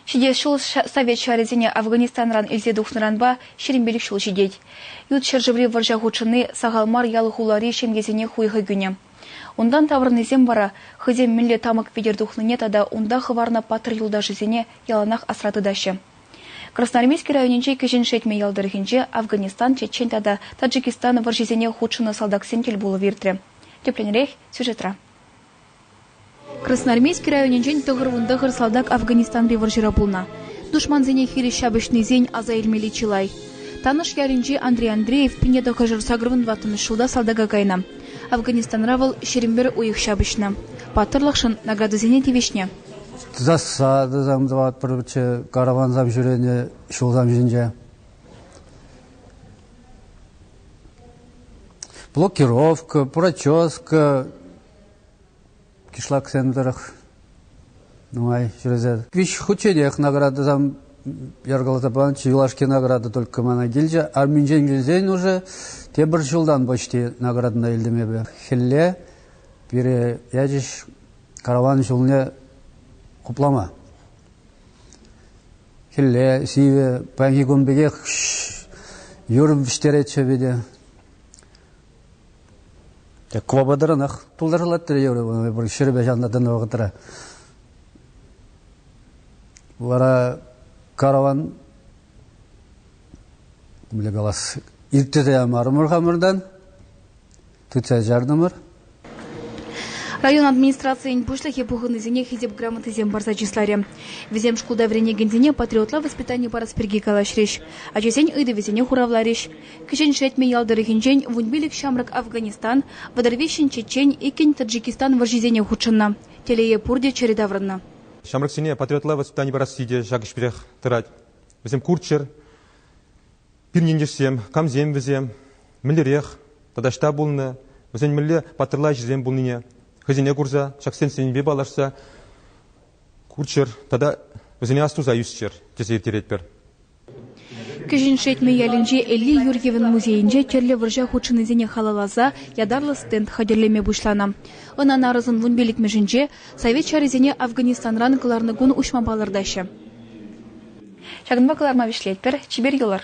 Ҫитес ҫул совет ҫарӗсене Афганистанран илсе тухнӑранпа ҫирӗмпелӗк ҫул ҫитет. Ют ҫӗршыври вӑрҫа хутшӑнни сахал мар ял-хулари ҫемьесене хуйхӑ кӳнӗ. Унтан таврӑннисем вара хӑйсем мӗнле тамӑк витӗр тухнине тата унта хӑварнӑ паттӑр юлташӗсене яланах асра тытаҫҫӗ. Красноармейски районӗнчи Кӗҫӗн Шетмӗ ял тӑрӑхӗнче Афганистан, Чечен тата Таджикистан вӑрҫисене хутшӑннӑ салтаксем тӗл пулӑв иртрӗ. Тӗплӗнрех сюжетра. Красноармейски районӗнчен тӑхӑр-вунтӑхӑр салтак Афганистанри вӑрҫӑра пулнӑ. Душмансене хирӗҫ ҫапӑҫнисен аса илмелли чылай. Танӑш ялӗнчи Андрей Андреев пине тӑххӑршар сакӑрӑн ватмӑш ҫулта салтака кайнӑ. Афганистанра вӑл ҫирӗмпӗр уйӑх ҫапӑҫнӑ. Паттӑрлӑхшӑн наградӑсене тивӗҫнӗ. Тӑсасса тӑсам тӑватпӑрччӗ каравансам ҫӳренӗ ҫулсам ҫинче. блокировка, прическа кишлаксем тӑрӑх нумай ҫӳресе. Виҫ хутченех наградӑсам яркаласа панӑччӗ. Юлашки награда только мана килчӗ. Арминчен килсен уже тепӗр ҫултан почти наградӑна илтӗм эпӗ. Хӗлле пире ячӗҫ караван ҫулне хуплама. Хӗлле сивӗ, паянхи кун пекех юрӑм вӗҫтеретчӗ питӗ. Квободранах тултарылаттӑр юрӑ пур ҫӗрпе ҫавна тӑнӑ вӑхӑтра. Вара караван мӗнле калас иртсе ямарӑмӑр хамӑртан. тытса чартӑмӑр. Район администрацийӗн пуҫлӑхӗ пухӑннисене хисеп грамотисем парса чысларӗ. Вӗсем шкулта вӗренекенсене патриотла воспитани парас пирки калаҫрӗҫ, ачасен ыйтӑвӗсене хуравларӗҫ. Кӗҫӗн Шетмӗ ял тӑрӑхӗнчен вун пилӗк ҫамрӑк Афганистан, вӑтӑр виҫҫӗн чечен, иккӗн Таджикистан вӑрҫисене хутшӑннӑ. Телее, пурте чӗрӗ таврӑннӑ. Ҫамрӑксене патриотла воспитани парасси те ҫак ӗҫпех тӑрать. Вӗсем курччӑр. Пирӗн ентешсем, камсем вӗсем, мӗнлерех тата ӑҫта пулнӑ, вӗсен мӗнле паттӑрла ӗҫӗсем пулнине хӑйсене курса, ҫак сӗнӗвпе паллашса курччӑр тата вӗсене астуса ӳсчӗр, тесе ирттеретпӗр. Кӗҫӗн Шетмӗ ялӗнчи Элли Юрьевӑн музейӗнче тӗрлӗ вӑрҫа хутшӑннисене халалласа ятарлӑ стенд хатӗрлеме пуҫланӑ. Ӑна нарӑсӑн вунпиллӗкмӗшӗнче Совет ҫарӗсене Афганистанран кӑларнӑ кун уҫма палӑртаҫҫӗ. Ҫакӑнпа кӑларма вӗҫлетпӗр, чипер юлӑр!